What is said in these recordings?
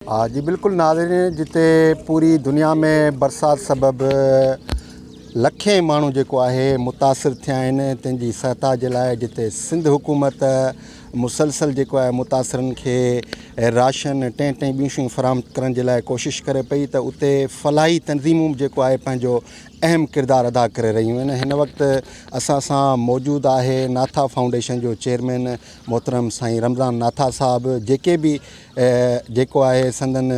ها جي بلڪل ناظرين جتي پوري دنيا ۾ برسات سبب لکين ماڻهو جيڪو آهي متاثر ٿيا آهن تن جي سهتا جي لاء جتي سنڌ حڪومت مسلسل جيڪو آهي متاثرن کي راشن ٽين ٽين ٻيون شيون فراهم ڪرڻ جي لاء ڪوشش ڪري پئي ته اتي فلاحي تنظيمون به جيڪو آهي پنهنجو اهم ڪردار ادا ڪري رهيون آهن هن وقت اسان سان موجود آهي ناٿا فائونڊيشن جو چيئرمين محترم سائين رمضان ناٿا صاحب جيڪي به جيڪو آهي سندن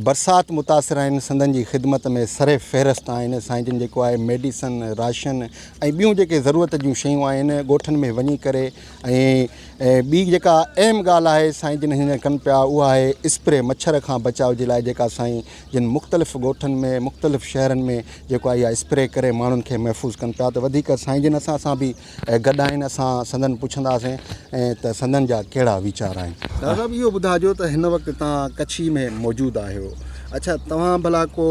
برسات متاثر آهن سندن جي خدمت ۾ سر فهرست آهن سائين جن جيڪو آهي ميڊيسن راشن ۽ ٻيون جيڪي ضرورت جون شيون آهن ڳوٺن ۾ وڃي ڪري ۽ ٻي جيڪا اهم ڳالهه آهي سائين جن هن ڪن پيا اها آهي اسپري مڇر کان بچاء جي لاء جيڪا سائين جن مختلف ڳوٺن ۾ مختلف شهرن ۾ جيڪو آهي اها اسپري ڪري ماڻهن کي محفوظ ڪن پيا ته وڌيڪ سائين جن اسان سان بي اهي گڏ آهن اسان سندن پڇنداسين ۽ ته سندن جا ڪهڙا ويچار آهن. ڊار صاحب اهو ٻڌاجو ته هن وقت توهان ڪڇي ۾ موجود آهيو اڇا توهان ڀلا ڪو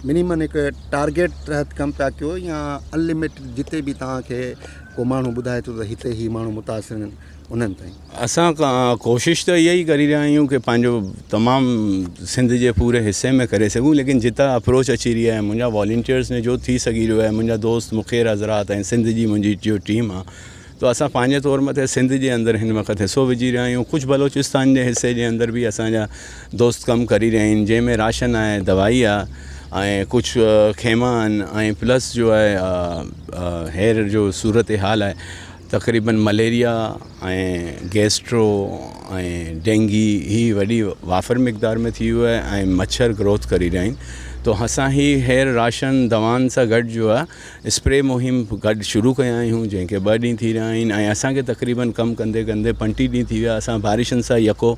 منيمن هڪ ٽارگيٽ تحت ڪم پيا ڪيو يا ان لمٽيڊ جتي به توهان کي ڪو ماڻهو ٻڌائي ٿو ته هتي هي ماڻهو متاثر آهن انهن تائين. اسان ڪوشش ته اها ئي ڪري رهيا آهيون ڪي پنهنجو تمام سنڌ جي پوري حصي ۾ ڪري سگهون ليڪن جتان اپروچ اچي رهي آهي منهنجا والينٽيرس ۾ جو ٿي سگهي رهيو آهي منهنجا دوست مخير حضرات ۽ سنڌ جي منهنجي جو ٽيم آهي تو اسان پنهنجي طور مٿي سنڌ جي اندر هن وقت حصو وجهي رهيا آهيون ڪجهه بلوچستان جي حصي جي اندر به اسانجا دوست ڪم ڪري رهيا آهن جنهن ۾ راشن آهي دوائي آهي ۽ ڪجهه خيما آهن ۽ پلس جو آهي هير جو صورتحال آهي تقريبن مليريا ۽ گيسٽرو ۽ ڊينگي هي وڏي وافر مقدار ۾ ٿي ويو آهي ۽ مڇر گروٿ ڪري رهيا آهن تو اسان هي هير راشن دوائن سان گڏ جو آهي اسپري مهم گڏ شروع ڪيا آهيون جنهن کي ٻه ڏينهن ٿي رهيا آهن ۽ اسانکي تقريبن ڪم ڪندي ڪندي پنٽيهه ڏينهن ٿي ويا اسان بارشن سان يڪو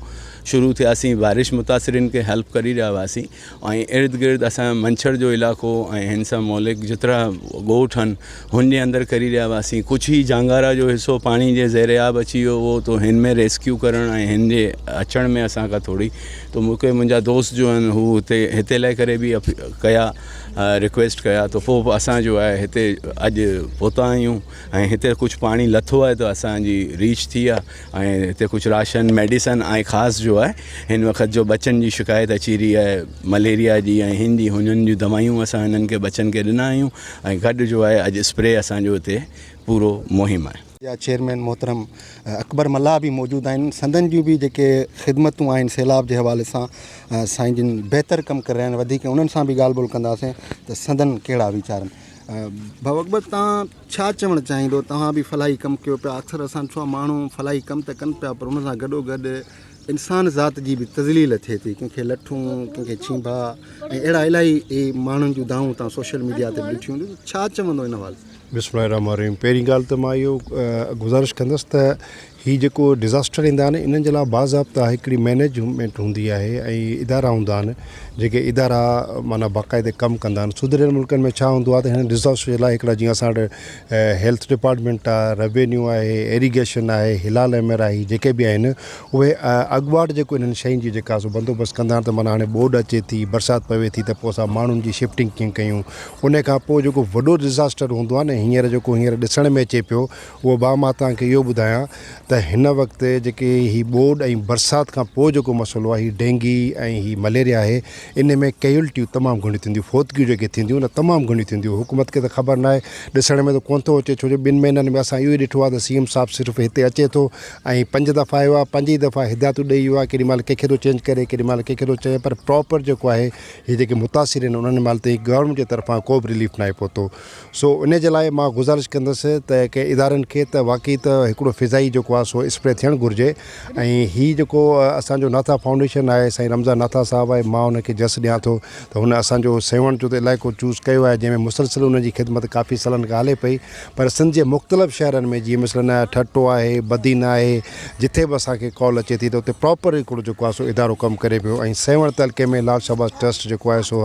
شروع ٿياسين بارش متاثرين کي هيلپ ڪري رهيا هئاسين ۽ ارد گرد اسان منڇر جو علائقو ۽ هن سان موليڪ جترا ڳوٺ هن هن جي اندر ڪري رهيا هئاسين ڪجھ هي جانگارا جو حصو پاڻي جي زير آب اچي ويو هو تو هن ۾ ريسڪيو ڪرڻ ۽ هن جي اچڻ ۾ اسان کان ٿوري تو مونکي منهنجا دوست جو هن هو هتي هتي لهي ڪري به ڪيا رڪويسٽ ڪيا تو پو اسان جو آهي هتي اڄ پوتا آهيون ۽ هتي ڪجھ پاڻي لٿو آهي تو اسان جي ريچ ٿي آهي ۽ هتي ڪجهه راشن ميڊيسن ۽ خاص جو آهي هن وقت جو ٻچن جي شڪايت اچي رهي آهي مليريا جي ۽ هن جي هنن جون دوائيون اسان هنن کي ٻچن کي ڏنا آهيون ۽ گڏ جو آهي اڄ اسپري اسانجو هتي پورو مهم آهي. جا چيئرمين محترم اڪبر ملاح به موجود آهن سندن جون به جيڪي خدمتون آهن سيلاب جي حوالي سان سائين جن بهتر ڪم ڪري رهيا آهن وڌيڪ انهن سان به ڳالهه ٻولهه ڪنداسين ته سندن ڪهڙا ويچار آهن ڀاء اڪبر تان ڇا چوڻ چاهيندو توهان به فلاحي ڪم ڪيو پيا اڪثر اسان ڏٺو آهي ماڻهو فلاحي ڪم ته ڪن پيا پر ان سان گڏو گڏ انسان ذات جي به تذليل ٿئي ٿي ڪنهن کي لٺون ڪنهن کي ڇينڀا ۽ اهڙا الاهي اهي ماڻهن جون دانهون توهان سوشل ميڊيا تي به ڏٺيون هونديون ته ڇا چوندو ان حوالي سان بسم الله الرحمٰن الرحيم پهرين ڳالهه ته مان اهو گذارش ڪندس ته هي جيڪو ڊزاسٽر ايندا آهن انهن جي لاء باضابطه هڪڙي مينيجمينٽ هوندي آهي ۽ ادارا هوندا آهن جيڪي ادارا معنيٰ باقاعده ڪم ڪندا آهن سڌريل ملڪن ۾ ڇا هوندو آهي ته هن ڊزاسٽر جي لاء هڪڙا جيئن اسان وٽ هيلٿ ڊپارٽمينٽ آهي روينيو آهي ايريگيشن آهي هلال احمر آهي هي جيڪي به آهن اهي اڳواٽ جيڪو انهن شين جي جيڪا سو بندوبست ڪندا آهن ته معنيٰ هاڻي ٻوڏ اچي ٿي برسات پوي ٿي ته پوء اسان ماڻهن جي شفٽنگ ڪيئن ڪيون ان کان پوء جيڪو وڏو ڊزاسٽر هوندو آهي نه هينئر جيڪو هينئر ڏسڻ ۾ اچي پيو اهو ڀاء مان توهان کي اهو ٻڌايان ته هن وقت جيڪي هي ٻوڏ ۽ برسات کان پوء جيڪو مسئلو آهي هي ڊينگي ۽ هي مليريا آهي ان ۾ ڪيولٽيون تمام گهڻيون ٿينديون فوتگيون جيڪي ٿينديون نه تمام گهڻيون ٿينديون حڪومت کي ته خبر نه آهي ڏسڻ ۾ ته ڪونه ٿو اچي ڇوجو ٻن مهينن ۾ اسان اهو ئي ڏٺو آهي ته سي ايم صاحب صرف هتي اچي ٿو ۽ پنج دفعا آيو آهي پنج ئي دفعا هدايتون ڏئي ويو آهي ڪيڏي مهل ڪنهن کي ٿو چينج ڪري ڪيڏي مهل ڪنهن کي ٿو چئي پر پراپر جيڪو آهي هي جيڪي متاثر آهن انهن مهل تائين گورنمينٽ جي طرفان ڪو به رليف نه آهي پهتو سو انهي جي لاء مان گذارش ڪندس ته ڪي ادارن کي ته واقعي ته هڪڙو فضائي جيڪو آ سو اسپري ٿيڻ گهرجي ۽ هي جيڪو اسان جو ناٿا فائونڊيشن آهي سائين رمضان ناٿا صاحب آهي مان ان کي جس ڏيان ٿو ته هن اسان جو سيوهڻ جو ته علائقو چوز ڪيو آهي جنهن ۾ مسلسل ان جي خدمت ڪافي سالن کان هلي پئي پر سنڌ جي مختلف شهرن ۾ جيئن مثلاً ٺٽو آهي بدين آهي جتي به اسان کي ڪال اچي ٿي ته اتي پراپر هڪڙو جيڪو آ سو ادارو ڪم ڪري پيو ۽ سيوهڻ تعلقي ۾ لال شهباز ٽرسٽ جيڪو آهي سو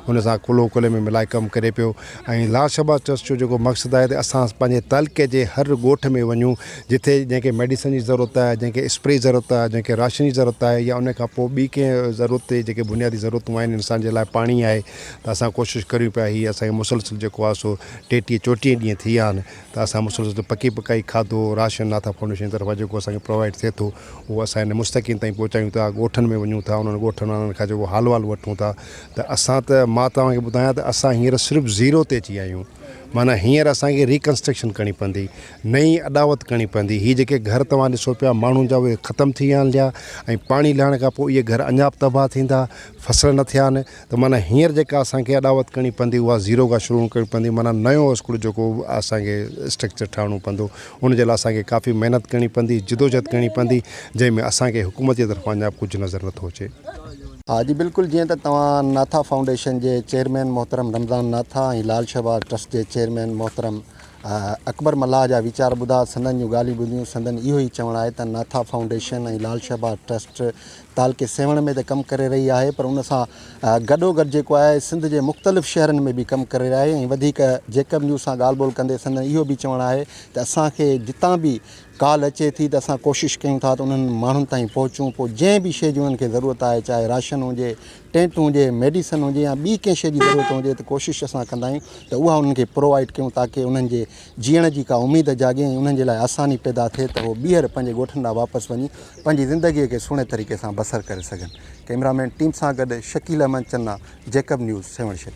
ان سان ڪلهو ڪلهي ۾ ملائي ڪم ڪري پيو ۽ لارڊ شهباز ٽرسٽ جو جيڪو مقصد آهي ته اسان پنهنجي تعلقي جي هر ڳوٺ ۾ وڃون جتي جنهن کي ميڊيسن جي ضرورت آهي جنهن کي اسپري جي ضرورت آهي جنهن کي راشن جي ضرورت آهي يا ان کان پوء ٻي ڪنهن ضرورت تي جيڪي بنيادي ضرورتون آهن انسان جي لاء پاڻي آهي ته اسان ڪوشش ڪريون پيا هي اسان کي مسلسل جيڪو آهي سو ٽيٽيهه چوٽيهه ڏينهن ٿي ويا آهن ته اسان مسلسل پڪي پڪائي کاڌو راشن ناٿا فائونڊيشن جي طرفان جيڪو اسان کي پرووائيڊ ٿئي ٿو اهو اسان هن مستحقين تائين پهچايون ٿا ڳوٺن ۾ وڃون ٿا انهن ڳوٺن وارن کان جيڪو حال وال وٺون ٿا ته اسان ته مان توهان کي ٻڌايان ته اسان هينئر صرف زيرو تي اچي ويا آهيون معنيٰ هينئر اسان کي ريڪنسٽرڪشن ڪرڻي پوندي نئين اڏاوت ڪرڻي پوندي هي جيڪي گهر توهان ڏسو پيا ماڻهن جا اهي ختم ٿي ويا آهن ليا ۽ پاڻي لهڻ کان پوء اهي گهر اڃا به تباهه ٿيندا فصل نه ٿيا آهن ته معنيٰ هينئر جيڪا اسان کي اڏاوت ڪرڻي پوندي اها زيرو کان شروع ڪرڻي پوندي معنيٰ نيو اسڪول جيڪو اسان کي اسٽرڪچر ٺاهڻو پوندو ان جي لاء اسان کي ڪافي محنت ڪرڻي پوندي جدوجهد ڪرڻي پوندي جنهن ۾ اسان کي حڪومت جي طرفان اڃا ڪجهه نظر نٿو اچي ها جي بلڪل جيئن ته توهان ناٿا فائونڊيشن جي چيئرمين محترم رمضان ناٿا ۽ لال شهباز ٽرسٽ جي چيئرمين محترم اڪبر ملاح جا ويچار ٻڌا سندن جون ڳالهيون ٻڌيون سندن اهو ئي چوڻ آهي ته ناٿا فائونڊيشن ۽ لال شهباز ٽرسٽ تعلقي سيوهڻ ۾ ته ڪم ڪري رهي آهي پر ان سان گڏوگڏ جيڪو آهي سنڌ جي مختلف شهرن ۾ به ڪم ڪري رهي آهي ۽ وڌيڪ جيڪب نيوز سان ڳالهه ٻولهه ڪندي سندن اهو به چوڻ آهي ته اسان کي جتان به ڪال اچي ٿي ته اسان ڪوشش ڪيون ٿا ته انهن ماڻهن تائين پهچون پوء جنهن به شيء جي انهن کي ضرورت آهي چاهي راشن هجي، ٽينٽ هجي، ميڊيسن هجي يا ٻي ڪنهن شيء جي ضرورت هجي ته ڪوشش اسان ڪندا آهيون ته اها انهن کي پرووائيڊ ڪيون تاڪه انهن جي جيئڻ جي ڪا اميد جاڳي ۽ انهن جي لاء آساني پيدا ٿئي ته هو ٻيهر پنهنجي ڳوٺن ڏانهن واپس وڃي پنهنجي زندگي کي سهڻي طريقي سان بسر ڪري سگهن. ڪئميرا مين ٽيم سان گڏ شڪيل احمد چنا، جيڪب نيوز، سيوهڻ شهر.